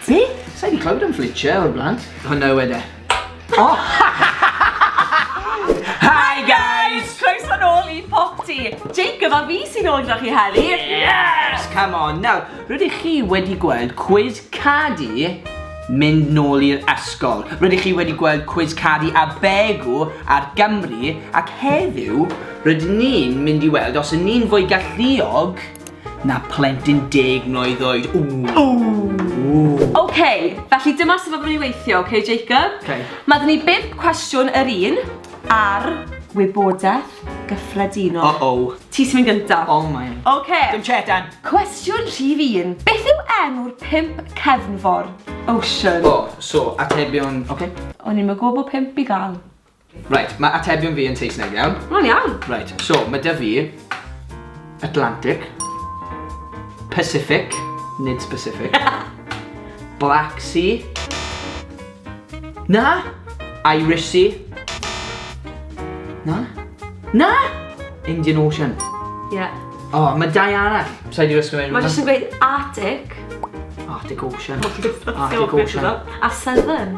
Fi? Sa'i di clywed am Fletcher o'r blaen. Hwna yw e Oh! Hi guys! Croeso nôl i Popty. Jacob a fi sy'n ôl gyda chi heddi. Yes! Come on. Nawr, rydych chi wedi gweld quiz cadi mynd nôl i'r ysgol. Rydych chi wedi gweld quiz cadi a begu ar Gymru ac heddiw rydyn ni'n mynd i weld os yn ni'n fwy galluog na plentyn deg mlwydd oed. Ww! Ww! Ok, felly dyma sut mae fydden ni weithio, ok Jacob? Ok. Mae gen ni bump cwestiwn yr un ar wybodaeth gyffredinol. Uh-oh. Ti sy'n mynd gynta. Oh my. Ok. Dim chetan. Cwestiwn rhif un. Beth yw enw'r pump cefnfor? Ocean. O, so, atebion, ok. O'n i'm yn gwybod bod pump i gael. Reit, mae atebion fi yn Saesneg iawn. Mae'n iawn. Reit, so mae dy fi Atlantic, Pacific, nid specific, Black Sea, na, Irish Sea, na, na, Indian Ocean. Ie. Yeah. O, oh, mae dau arall. Sa'i di wisgo mewn. Mae jyst yn gweud Arctic. Arctic Ocean. Arctic Ocean. A Southern.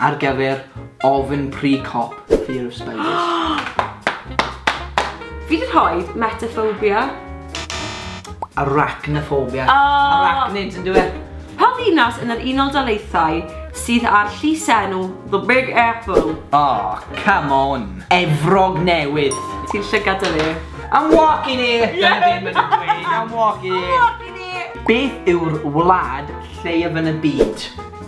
ar gyfer ofn pry cop, fear of spiders. Fi 'di rhoi metaphobia. Arachnophobia. Oh. Arachnids yn dweud. Pa ddinas yn yr Unol Daleithiau sydd â'r llysenw The Big Apple? Oh, come on. Efrog Newydd. Ti'n llygad â fi. I'm walking here! Yeah. Dyna beth mae'n dweud, I'm walking here. I'm walking here! Beth yw'r wlad lleiaf yn y byd?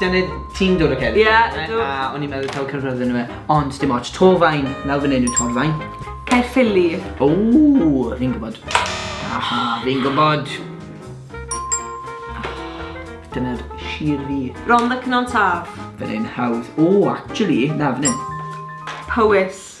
Dyna ti'n dod o Ceredigion yeah, right? a o'n i'n meddwl taw Caerfyrddin yn nhw e, ond dim ots, Torfaen, nawr fan hyn yw Torfaen. Caerffili. O, fi'n gwybod. Aha, fi'n gwybod. Dyna'r sir fi. Ron the Cynon Taf. Fan hyn, hawdd. O, actually, na, fan hyn. Powys.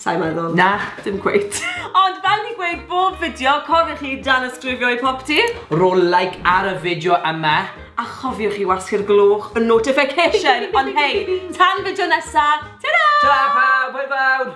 Sai'n meddwl. Na, dim cweit. Ond fel ni'n gweud bob fideo, cofiwch i danysgrifio i popty. Ro like ar y fideo yma, a chofiwch i wasgu'r gloch y notification. Ond hei, tan fideo nesa, ta-ra! Ta-ra pawb, hwyl fawr!